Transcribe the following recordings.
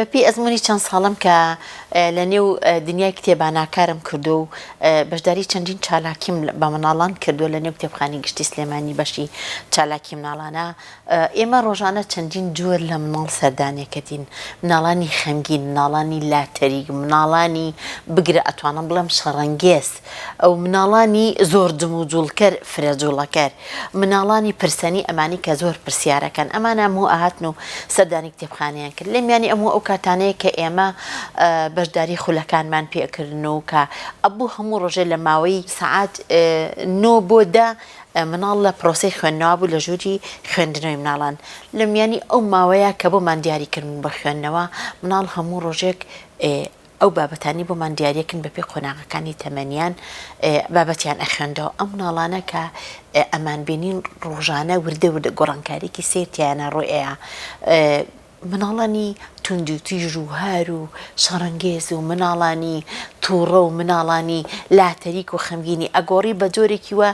بە پێی ئەزموونی چەند ساڵەم کە لە نێو دنیای کتێبانا کارم کردووە و بەشداری چەندین چالاکیم بە مناڵان کردووە لە نێو کتێبخانەی گشتی سلێمانی بەشی چالاکی مناڵانە ئێمە ڕۆژانە چەندین جۆر لە مناڵ سەردانێکەتین مناڵانی خەمگین مناڵانی لاتەریک مناڵانی بگرە ئەتوانم بڵێم شەڕەنگێز ئەو مناڵانی زۆر جمو جوڵکەر فرە جوڵەکەر مناڵانی پرسەنی ئەمانی کە زۆر پرسیارەکەن ئەمان ئەموو ئەهاتن و سەردانی کتێبخانەیان کرد لە میانی ئەموو ئەو کاتانەیە کە ئێمە بەشداری خولەکانمان پێکردن و کە ئەبوو هەموو ڕۆژێ لە ماوەی سەعات نۆ بۆ دە مناڵ لە پرۆسی خوێندنەوە بوو لە ژووری خوێندنەوەی مناڵان لە میانی ئەو ماوەیە کە بۆمان دیاری کردن بە خوێندنەوە مناڵ هەموو ڕۆژێک ئەو بابەتانەی بۆمان دیاریەکن بەپێی قۆناغەکانی تەمەنیان بابەتیان ئەخوێندەوە ئەم مناڵانە کە ئەمان بینین ڕۆژانە وردە وردە گۆڕانکاریکی سیر تیانە ڕۆی ئەیە مناڵانی توندی و تیژ و هار و شەڕەنگێز و مناڵانی تووڕە و مناڵانی لاتەریک و خەمگینی ئەگۆڕی بە جۆرێکی وە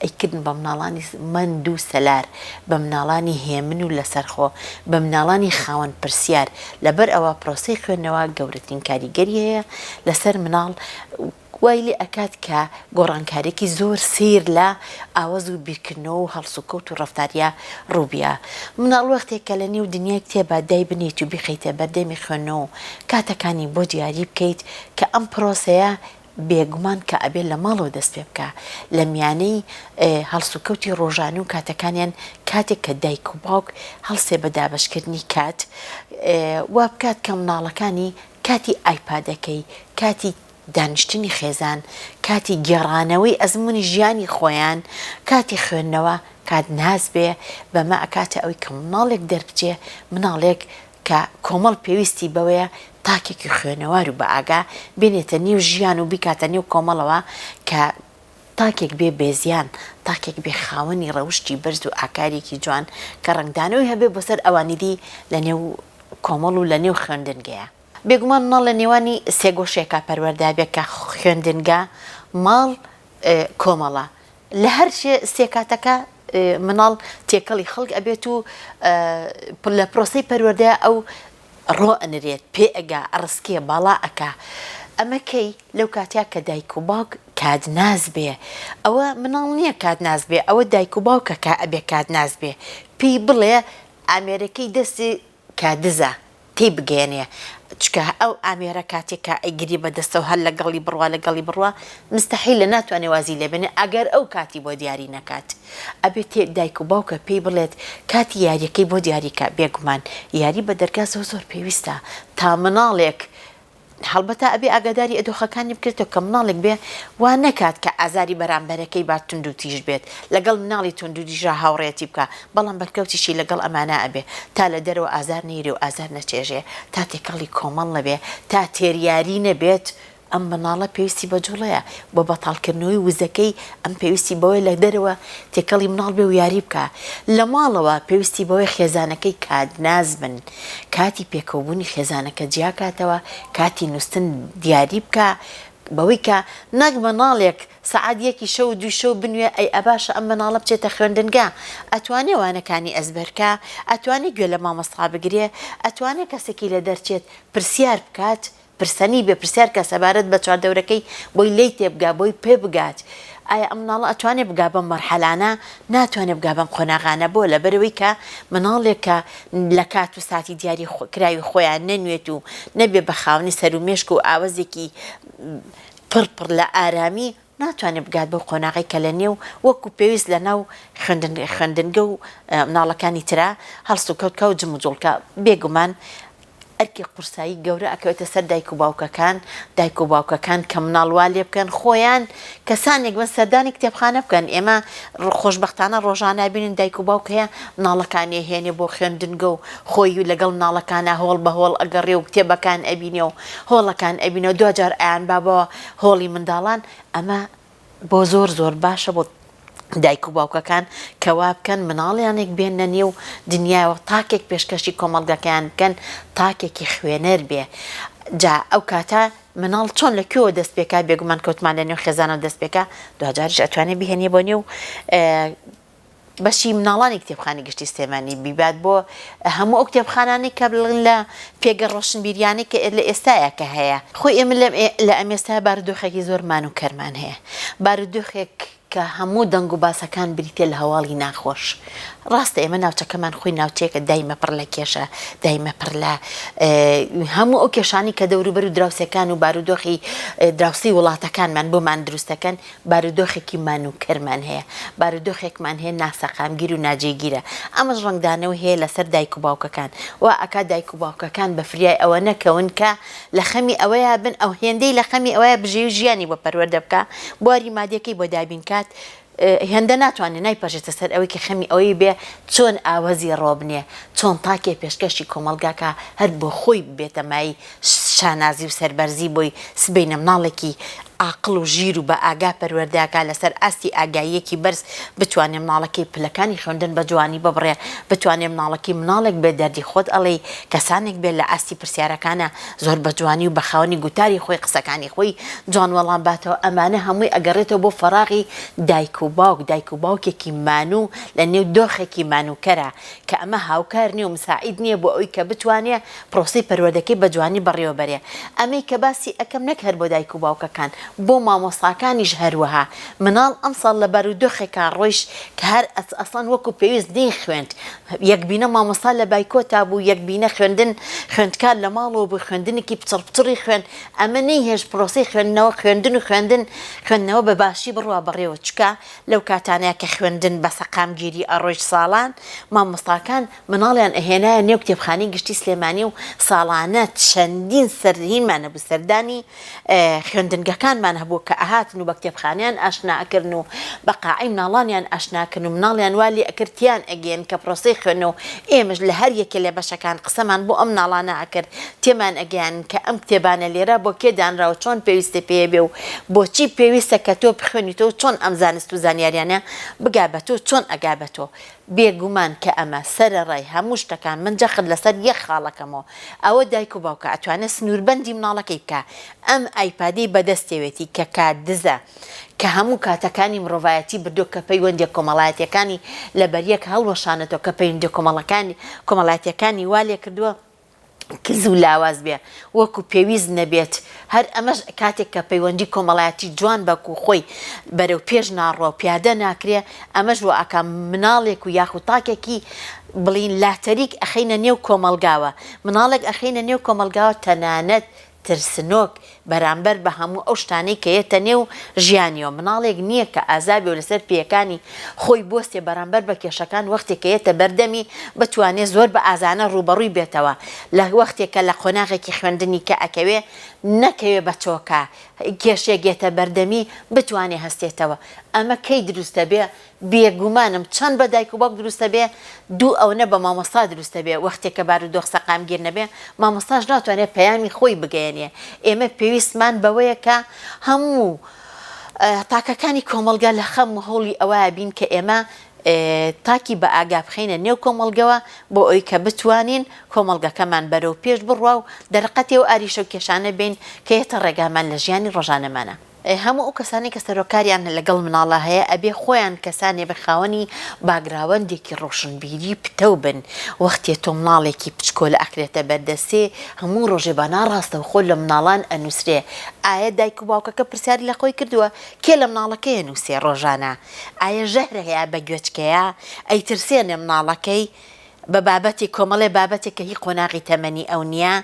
ی کردن بە مناڵانی مەند و سەلار، بە مناڵانی هێمن و لەسەرخۆ، بە مناڵانی خاوەن پرسیار، لەبەر ئەوە پرۆسەی خوێندنەوە گەورەترین کاریگەری هەیە لەسەر مناڵ و وای لێ ئەکات کە گۆڕانکاریەکی زۆر سەیر لە ئاوەز و بیرکردنەوە و هەڵسوکەوت و ڕەفتاریا ڕووبیا. مناڵ وەختێک کە لە نێو دنیای کتێبا دای بنێیت و بیخەیتە بەردەمی خوێندنەوە و کاتەکانی بۆ دیاری بکەیت کە ئەم پرۆسەیە بێگومان کە ئەبێ لە ماڵەوە دەست پێ بکا لە میانەی هەڵسوکەوتی ڕۆژانە و کاتەکانیان کاتێک کە دایک و باوک هەڵسێ بە دابەشکردنی کات وا بکات کە مناڵەکانی کاتی ئایپادەکەی کاتی دانیشتنی خێزان کاتی گێڕانەوەی ئەزمموی ژیانی خۆیان کاتی خوێندنەوە کات ناز بێ بەمە ئەکاتە ئەوی کە مناڵێک دەربچێ مناڵێک کە کۆمەڵ پێویستی بەوەیە تاکێکی خوێنەوار و بەئاگا بێنێتە نێو ژیان و بیکاتە نێو کۆمەڵەوە کە تاکێک بێ بێزیان، تاکێک بێ خاوەنی ڕەوشتی بەرز و ئاکارێکی جوان کە ڕەنگدانەوەی هەبێ بۆ سەر ئەوانی دی لە نێو کۆمەڵ و لە نێو خوێندنگەیە. بێگومان ماڵ لە نێوانی سێگۆشێکا پەروەردە بێ کە خوێندنگە، ماڵ، کۆمەڵە. لە هەر سێ کاتەکە مناڵ تێکەڵی خەڵک ئەبێت و لە پرۆسەی پەروەردەیە ئەو ڕۆ ئەنرێت پێ ئەگا ئەڕسکێ باڵا ئەکا ئەمە کەی لەو کاتیا کە دایک و باوک کات ناز بێ ئەوە مناڵ نییە کات ناز بێ ئەوە دایک و باوکەکە ئەبێ کات ناز بێ پێی بڵێ ئامێرەکەی دەستی کە دزە تێی بگەیەنێ چکە ئەو ئامێرە کاتێ کە ئەیگری بە دەستەو هەر لە گەڵی بڕوا لە گەڵی بڕوا مستەحیلە ناتوانێ وازی لێ بێنێ ئەگەر ئەو کاتی بۆ دیاری نەکات ئەبێ تێ دایک و باوکە پێی بڵێت کاتی یاریەکەی بۆ دیاری کە بێگومان یاری بە دەرگا زۆر زۆر پێویستە تا مناڵێک هەڵبەتە ئەبێ ئاگاداری ئەدۆخەکانی بکرێتەوە کە مناڵێک بێ وا نەکات کە ئازاری بەرامبەرەکەی با توندو تیژ بێت لەگەڵ مناڵی توندو تیژا هاوڕێیەتی بکا بەڵام بەرکەوتیشی لەگەڵ ئەمانا ئەبێ تا لە دەرەوە ئازار نەیرێ و ئازار نەچێژێ تا تێکەڵی کۆمەڵ نەبێ تا تێریاری نەبێت ئەم مناڵە پێویستی بە جوڵەیە بۆ بەتاڵ کردنەوەی وزەکەی ئەم پێویستی بەوەیە لە دەرەوە تێکەڵی مناڵ بێ و یاری بکا لە ماڵەوە پێویستی بەوەیە خێزانەکەی کادناس بن کاتی پێکەوبونی خێزانەکە جیاکاتەوە، کاتی نوستن دیاری بکە، بەوەی کە نەک مناڵێک سەعات یەکی شەو و دووی شەو بنوێ ئەی ئەباشە ئەم مناڵە بچێتە خوێندنگا ئەتوانێ وانەکانی ئەزبەرکا ئەتوانێ گوێ لە مامۆستا بگرێ ئەتوانێ کەسێکی لەدەرچێت پرسیار بکات پرسنی بێ پرسیار کە سەبارەت بە چواردەورەکەی بۆی لێی تێبگا بۆی پێ بگات ئایا ئەم مناڵە ئەتوانێ بگا بەم مەرحەلانە ناتوانێ بگا بەم قۆناغانە بۆ لەبەرەوەی کە مناڵێک کە لە کات و ساتی دیاری کراوی خۆیان نەنوێت و نەبێ بە خاونی سەر و مێشک و ئاوەزێکی پڕ پڕ لە ئارامی ناتوانێت بگات بەو قۆناغەی کە لە نێو وەکو پێویست لە ناو خوێندنگە و مناڵەکانی ترا هەڵس و کەوت کا و جموجوڵکە بێ گومان ئەرکی قورسایی گەورە ئەکەوێتە سەر دایک و باوکەکان دایک و باوکەکان کە مناڵ وا لێ بکەن خۆیان کەسانێک بن سەردانی کتێبخانە بکەن ئێمە خۆشببختانە ڕۆژانە بینین دایک و باوک هەیە مناڵەکانی هێنێ بۆ خوێندنگە و خۆی و لەگەڵ مناڵەکانە هۆڵ بە هۆڵ ئەگەڕێ و کتێبەکان ئەبینێ و هۆڵەکان ئەبینەوە دوجار ئایان بابەوە هۆڵی منداڵان ئەمە بۆ زۆر زۆر باشە بۆ دایک و باوکەکان کەوا بکەن مناڵیانێک بێنە نێو دنیاەوە تاکێک پێشکەشی کۆمەڵگەکەیان بکەن تاکێکی خوێنەر بێ جا ئەو کاتە مناڵ چۆن لە کوێوە دەست پێکا بێگومان کەوتمان لە نێو خێزانەوە دەست پێکا دوجاریش ئەتوانێت بهێنێ بۆ نێو بەشی مناڵانی کتێبخانەی گشتی سلێمانی بیبات بۆ هەموو ئەو کتێبخانانەی کە بڵن لە پێگە ڕۆشنبیریانەی کە لە ئێستاە کە هەیە خۆی ئێمە لە لە ئەمێستا بارودۆخێکی زۆرمان و کەرمان هەیە بارودۆخێک کە هەموو دەنگ و باسەکان بریتە لە هەواڵی ناخۆش ڕاستە ئێمە ناوچەکەمان خۆی ناوچەیەکە دایمە پڕ لە کێشە دایمە پڕ لە هەموو ئەو کێشانی کە دەوروبەر و دراوسەکان و بارودۆخی دراوسی وڵاتەکانمان بۆمان دروستەکەن بارودۆخێکی مان و کەرمان هەیە، بارودۆخێکمان هەیە ناسەقامگیر و ناجێگیرە، ئەمەش ڕەنگدانەوەی هەیە لەسەر دایک و باوکەکان، وا ئەکات دایک و باوکەکان بە فریای ئەوە نەکەون کە لە خەمی ئەوەیا بن ئەو هێندەی لە خەمی ئەوەیا بژێوی ژیانی بۆ پەروەردە بکا بواری مادیەکەی بۆ دابین کات هێندە ناتوانێ نایپەرژێتە سەر ئەوەی کە خەمی ئەوەی بێ چۆن ئاوەزی ڕۆبنێ چۆن تاکێ پێشکەشی کۆمەڵگا کا هەر بۆ خۆی ببێتە مایەی شانازی و سەربەرزی بۆی سبەینە مناڵێکی ئاقڵ و ژیر و بە ئاگا پەروەردەکا لەسەر ئاستی ئاگاییەکی بەرز بتوانێ مناڵەکەی پلەکانی خوێندن بە جوانی ببڕێ بتوانێ مناڵەکەی مناڵێک بێ دەردی خۆت ئەڵێی کەسانێک بێ لە ئاستی پرسیارەکانا زۆر بە جوانی و بە خاوەنی گوتاری خۆی قسەکانی خۆی جوان وەڵام باتەوە ئەمانە هەمووی ئەگەڕێتەوە بۆ فەراغی دایک و باوک دایک و باوکێکی مانوو لە نێو دۆخێکی مانووکەرا کە ئەمە هاوکار نیە و مساعید نیە بۆ ئەوی کە بتوانێ پرۆسەی پەروەردەکەی بە جوانی بەڕێوە بەرێ ئەمەی کە باسی ئەکەم نەک هەر بۆ دایک و باوکەکان بۆ مامۆستاکانیش هەروەها مناڵ ئەمساڵ لە بارو دۆخێکا ڕۆیشت کە هەر ئەسڵەن وەکو پێویست نەی خوێند یەک بینە مامۆستا لە بایکۆتا بوو یەک بینە خوێندن خوێندکار لە ماڵەوە بوو خوێندنێکی پچڕ پچڕی خوێن ئەمە نەی هێشت پرۆسەی خوێندنەوە خوێندن و خوێندن خوێندنەوە بە باشی بڕوا بەڕێوە چکە لەو کاتانەیە کە خوێندن بە سەقامگیری ئەڕۆیشت ساڵان مامۆستاکان مناڵیان ئەهێنایە نێو کتێبخانەی گشتی سلێمانی و ساڵانە چەندین سەرهینمان هەبوو سەردانی خوێندنگەکانمان هەبوو کە ئەهاتن و بە کتێبخانەیان ئاشنا ئەکردن و بە قاعەی مناڵانیان ئاشنا ئەکردن و مناڵیان وا لێ ئەکرد تێیان ئەگەیەند کە پرۆسەی خوێندنە و ئێمەش لە هەر یەکێ لە بەشەکان قسەمان بۆ ئەم مناڵانە ئەکرد تێمان ئەگەیاند کە ئەم کتێبانە لێرە بۆ کێ دانراوە چۆن پێویستت پێیە بێ و بۆچی پێویستە کە تۆ بخوێنیتەوە چۆن ئەم زانست و زانیاریانە بگا بە تۆ چۆن ئەگا بە تۆ بێ گومان کە ئەمە سەرەڕای هەموو شتەکان من جەخت لەسەر یەک خاڵ ئەکەمەوە ئەوە دایک و باوکە ئەتوانێ سنووربەندی مناڵەکەی بکا ئەم ئایپادەی بەدەستێوێتی کە کات دزە کە هەموو کاتەکانی مڕۆڤایەتی بردووە کە پەیوەندیە کۆمەڵایەتیەکانی لەبەریەک هەڵوەشانەتەوە کە پەیوندە کۆمەڵەکانی کۆمەڵایەتیەکانی وا لێکردووە کز و لاواز بێ وەکو پێویست نەبێت، هەر ئەمەش کاتێک کە پەیوەندی کۆمەڵایەتی جوان بەکو خۆی بەرەو پێش ناڕوا و پیادە ناکرێ، ئەمەش وائەکا مناڵێک و یاخو تاکێکی بڵین لاتەریک ئەخەینە نێو کۆمەڵگاوە، مناڵێک ئەخەینە نێو کۆمەڵگاوە تەنانەت ترسنۆک بەرامبەر بە هەموو ئەو شتانەی کە یەتە نێو ژیانیەوە مناڵێک نیە کە ئازابێ و لەسەر پێیەکانی خۆی بوەستێ بەرامبەر بە کێشەکان وەختێ کە یەتە بەردەمی بتوانێ زۆر بە ئازانە ڕووبەڕووی بێتەوە لە وەختێ کە لە قۆناغێکی خوێندنی کە ئەکەوێ نەکەوێ بە چۆکە کێشێک یەتە بەردەمی بتوانێ هەستێتەوە ئەمە کەی دروستە بێ بێگومانم چەند بە دایک و باوک دروستە بێ دوو ئەونە بە مامۆستا دروستە بێ وەختێ کە بارودۆخ سەقامگیر نەبێ مامۆستاش ناتوانێ پەیامی خۆی بگەیەنێ ئێمە پێویستمان بەوەیە کە هەموو تاکەکانی کۆمەڵگا لە خەم و هەوڵی ئەوەیە بین کە ئێمە تاکی بە ئاگا بخەینە نێو کۆمەڵگەوە بۆ ئەوی کە بتوانین کۆمەڵگەکەمان بەرەو پێش بڕوا و دەرقەتێ و ئاریشە و کێشانە بین کە یەتە ڕێگامان لە ژیانی ڕۆژانەمانە. هەموو ئەو کەسانەی کە سەرۆکاریان لەگەڵ مناڵە هەیە ئەبێ خۆیان کەسانێ بن خاوەنی باگراوەندێکی ڕۆشنبیری پتەو بن وەختێ تۆ مناڵێکی پچکۆلە ئەکرێتە بەردەستێ هەموو ڕۆژێ با ناڕاستەوخۆ لە مناڵان ئەنوسرێ ئایە دایک و باوکەکە پرسیاری لە خۆی کردووە کێ لە مناڵەکەی ئەنوسێ ڕۆژانە ئایە ژەهرە یا بە گوێچکەیە ئەیترسێنێ مناڵەکەی بە بابەتی کۆمەڵێ بابەتێک کە هی قۆناغی تەمەنی ئەو نییە،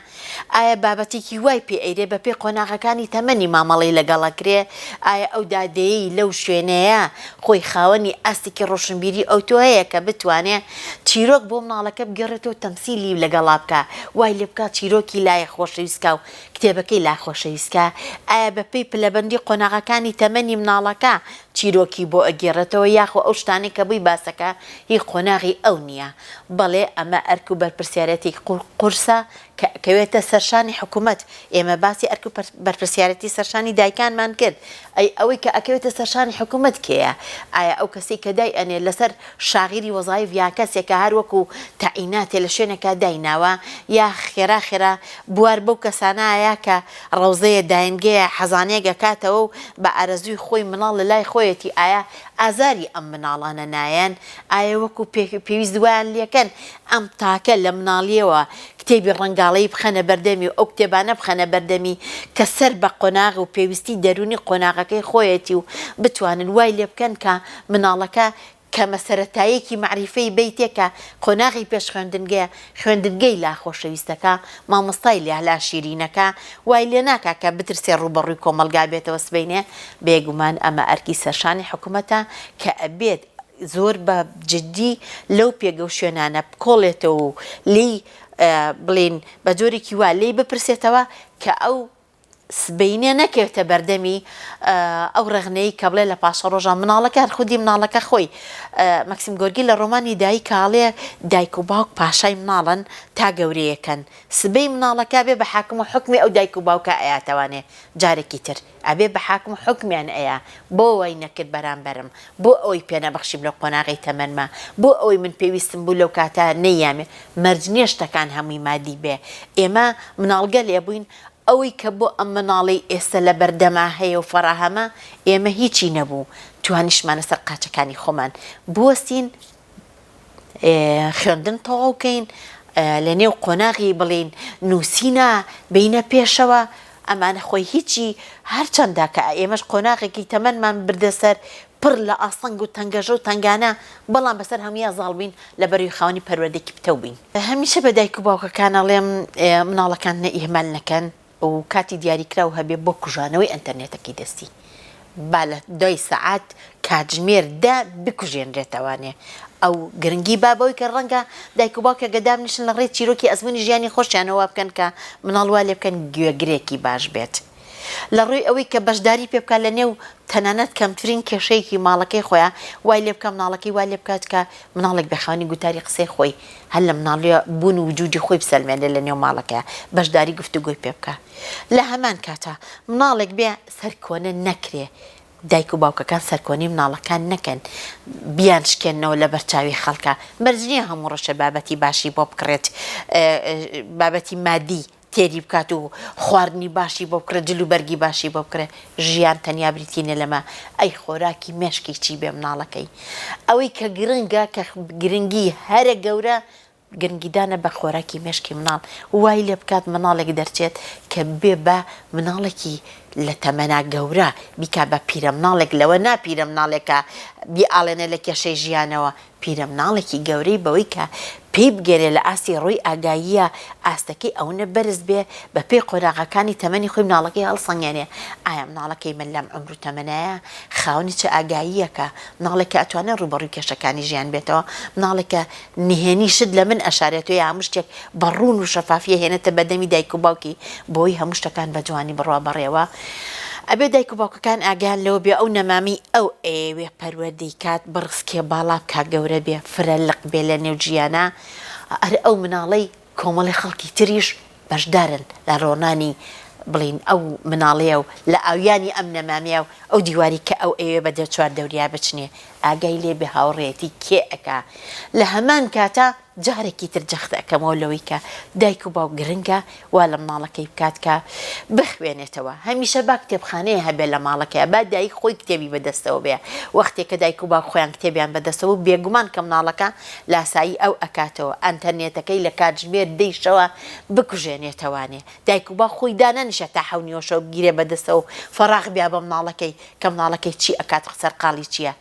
ئایا بابەتێکی وای پێ ئەیرێ بە پێی قۆناغەکانی تەمەنی مامەڵەی لەگەڵ ئەکرێ، ئایا ئەو دادەیەی لەو شوێنەیە خۆی خاوەنی ئاستێکی ڕۆشنبیری ئەوتۆ هەیە کە بتوانێ چیرۆک بۆ مناڵەکە بگێڕێتەوە و تەمسیلی لەگەڵا بکا وای لێ بکا چیرۆکی لای خۆشەویستکا و کتێبەکەی لای خۆشەویستکا، ئایا بە پێی پلەبەندی قۆناغەکانی تەمەنی مناڵەکە چیرۆکی بۆ ئەگێڕێتەوە یاخۆ ئەو شتانەی کە بووی باسەکە هی قۆناغی ئەو نییە بەڵێ ئەمە ئەرک و بەرپرسیارێتێکی قورسە کە ئەکەوێتە سەر شانی حکومەت ئێمە باسی ئەرک و بەرپرسیارێتی سەر شانی دایکانمان کرد ئەی ئەوەی کە ئەکەوێتە سەر شانی حکومەت کێیە ئایا ئەو کەسەی کە دای ئەنێ لەسەر شاغیری وەزایف یا کەسێکە هەر وەکو تەعیناتێ لە شوێنێکا دای ناوە یا خێرا خێرا بوار بەو کەسانایە کە ڕەوزەیە داینگەیە حەزانێک ئەکاتەوە و بە ئارەزووی خۆی مناڵ لە لای خۆیەتی ئایا ئازاری ئەم مناڵانە نایەن؟ ئایا وەکو پێ پێویست وایان لێکەن ئەم تاکە لە مناڵیەوە کتێبی ڕەنگاڵەیی بخەنە بەردەمی و ئەو کتێبانە بخەنە بەردەمی کە سەر بە قۆناغ و پێویستی دەروونی قۆناغەکەی خۆیەتی و بتوانن وای لێ بکەن کە مناڵەکە کەمە سەرەتاییەکی مەعریفەی بەیتێ کە قۆناغی پێش خوێندنگەیە، خوێندنگەی لا خۆشەویستەکە، مامۆستای لە لا شیرینەکە، وای لێ ناکا کە بترسێ ڕووبەڕووی کۆمەڵگا بێتەوە سبەینێ، بێگومان ئەمە ئەرکی سەرشانی حکومەتە کە ئەبێت زۆر بە جدی لەو پێگە و شوێنانە بکۆڵێتەوە و لێی بڵێین بە جۆرێکی وا لێی بپرسێتەوە کە ئەو سبەینێ نەکەوێتە بەردەمی ئەو ڕەخنەی کە بڵێ لە پاشەڕۆژە مناڵەکە هەر خودی مناڵەکە خۆی مەکسیم گۆرگی لە ڕۆمانی دایی کاڵێ دایک و باوک پاشای مناڵن تا گەورەیەکەن سبەی مناڵەکە بێ بە حاکم و حکمی ئەو دایک و باوکە ئەیاتەوانێ جارێکی تر ئەبێ بە حاکم و حکمیان ئەیە بۆ وای نەکرد بەرامبەرم بۆ ئەوەی پێ نەبەخشیم لەو قۆناغی تەمەنما بۆ ئەوەی من پێویستم بوو لەو کاتە نەیامێ مەرج نیە شتەکان هەمووی مادی بێ ئێمە مناڵگەلێ بووین ئەوەی کە بۆ ئەم مناڵەی ئێستە لە بەردەما هەیە و فەڕاهەمە، ئێمە هیچی نەبوو، توانیشتمانە سەر قاچەکانی خۆمان بوەستین، خوێندن تەواو کەین، لە نێو قۆناغی بڵێین نووسینە بێینە پێشەوە، ئەمانە خۆی هیچی، هەر چەندە کە ئێمەش قۆناغێکی تەمەنمان بردە سەر پڕ لە ئاستەنگ و تەنگەژە و تەنگانە، بەڵام بەسەر هەموویا زاڵ بووین لە بەرەی خاوەنی پەروەردەیەکی پتەو بووین. هەمیشە بە دایک و باوکەکان ئەڵێم مناڵەکان نە ئیهمال نەکەن و کاتی دیاری کراو هەبێ بۆ کوژانەوەی ئەنتەرنێتەکەی دەستی با لە دوای سەعات کاتژمێر دە بکوژێنرێتەوانێ ئەو گرنگی با بەوەی کە ڕەنگە دایک و باوکێکە دابنیشن لە ڕێی چیرۆکی ئەزموونی ژیانی خۆشیانەوە وا بکەن کە مناڵ وا لێ بکەن گوێگرێکی باش بێت. لە ڕووی ئەوەی کە بەشداری پێ بکات لە نێو تەنانەت کەمترین کێشەیەکی ماڵەکەی خۆیا وای لێ بکات مناڵەکەی وا لێ بکات کە مناڵێک بێ خاوەنی گوتاری قسەی خۆی هەر لە مناڵیە بوون و وجودی خۆی بسەلمێنێ لە نێو ماڵەکەیا بەشداری گفتوگۆی پێ بکا لە هەمان کاتا مناڵێک بێ سەرکۆنە نەکرێ دایک و باوکەکان سەرکۆنی مناڵەکان نەکەن بیان شکێنەوە لە بەرچاوی خەڵکە مەرج نییە هەموو ڕەشە بابەتی باشی بۆ بکڕێت بابەتی مادی تێری بکات و خواردنی باشی بۆ بکڕێ جل و بەرگی باشی بۆ بکڕێ ژیان تەنیا بریتی نیە لەمە ئەی خۆراکی مێشکی چی بێ مناڵەکەی ئەوەی کە گرنگە کە گرنگی هەرە گەورە گرنگی دانە بە خۆراکی مێشکی مناڵ وای لێ بکات مناڵێک دەرچێت کە بێ بە مناڵێکی لە تەمەنا گەورە بیکا بە پیرە مناڵێک لەوە نا پیرە مناڵێکە بیاڵێنێ لە کێشەی ژیانەوە پیرەمناڵێکی گەورەی بەوەی کە پێی بگەرێ لە ئاستی ڕووی ئاگاییە ئاستەکەی ئەونە بەرز بێ بە پێی قۆناغەکانی تەمەنی خۆی مناڵەکەی هەڵسەنگێنێ ئایا مناڵەکەی من لەم عومر و تەمەنایە خاوەنی چ ئاگاییەکە مناڵێک کە ئەتوانێ ڕوو بە ڕووی کێشەکانی ژیان بێتەوە مناڵێک کە نهێنی شت لە من ئەشارێ تۆ یا هەموو شتێک بە ڕوون و شەفافیە هێنێتە بەدەمی دایک و باوکی بۆی هەموو شتەکان بە جوانی بڕوا بەڕێوە ئەبێ دایک و باوکەکان ئاگایان لەوە بێ ئەو نەمامەی ئەو ئەیەوێ پەروەردەی کات بڕسکێ باڵا بکا گەورە بێ فرە لق بێ لە نێو جیانا ئەر ئەو مناڵەی کۆمەڵی خەڵکی تریش بەشدارن لە ڕۆنانی بڵین ئەو مناڵەیە و لە ئاویانی ئەم نەمامەیە و ئەو دیواری کە ئەو ئەیەوێ بە دەرچوار دەوریا بچنێ ئاگای لێ بێ هاوڕێیەتی کێ ئەکا لە هەمان کاتا جارێکی تر جەخت ئەکەمەوە لەوەی کە دایک و باوک گرنگە وا لە مناڵەکەی بکات کە بخوێنێتەوە هەمیشە با کتێبخانەیە هەبێت لە ماڵەکەیا با دایک خۆی کتێبی بە دەستەوە بێ وەختێ کە دایک و باوک خۆیان کتێبیان بە دەستەوە بوو بێگومان کە مناڵەکە لاسایی ئەو ئەکاتەوە ئەنتەرنێتەکەی لە کاتژمێر دەی شەوا بکوژێنێتەوانێ دایک و باوک خۆی دانەنیشێ تا حەو نیوەشەو بگیرێ بە دەستەوە و فەڕاخ بیا بە مناڵەکەی کە مناڵەکەی چی ئەکات سەرقاڵی چیە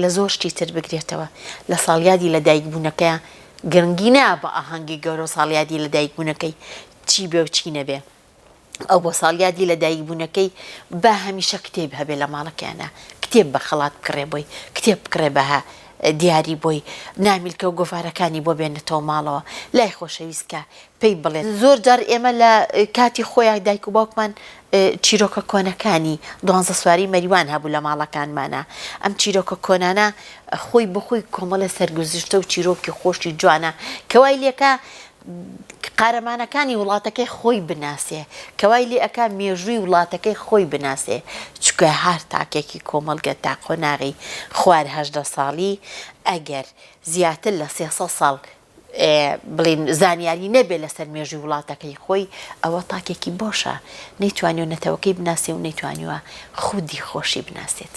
لە زۆر شتی تر بگرێتەوە لە ساڵیادی لە دایک بوونەکەیا گرنگی نایە بە ئاهەنگی گەورەو ساڵیادی لە دایک بوونەکەی چی بێ و چی نەبێ ئەو بۆ ساڵیادی لە دایک بوونەکەی با هەمیشە کتێب هەبێ لە ماڵەکەیانا کتێب بە خەڵات بکڕێ بۆی کتێب بکڕێ بە دیاری بۆی نامیلکەو گۆڤارەکانی بۆ بێنێتەوە ماڵەوە لای خۆشەویست کە پێی بڵێت زۆر جار ئێمە لە کاتی خۆیان دایک و باوکمان چیرۆکە کۆنەکانی دوانزە سواری مەریوان هەبوو لە ماڵەکانمانە ئەم چیرۆکە کۆنانە خۆی بخۆی کۆمەڵە سەرگوزشتە و چیرۆکی خۆشی جوانە کەوای لێکە قارەمانەکانی وڵاتەکەی خۆی بناسێ کەوای لێ ئەک مێژووی وڵاتەکەی خۆی بناسێ چکە هەر تاکێکی کۆمەلگە تا قۆناغی خوارهدە ساڵی ئەگەر زیاتر لە سێسە ساڵ بڵێین زانیاری نەبێت لەسەر مێژووی وڵاتەکەی خۆی ئەوە تاکێکی بۆشە نەیتوانی و نەتەوەکەی بناسێ و نەیتوانیوە خودی خۆشی بناسێت.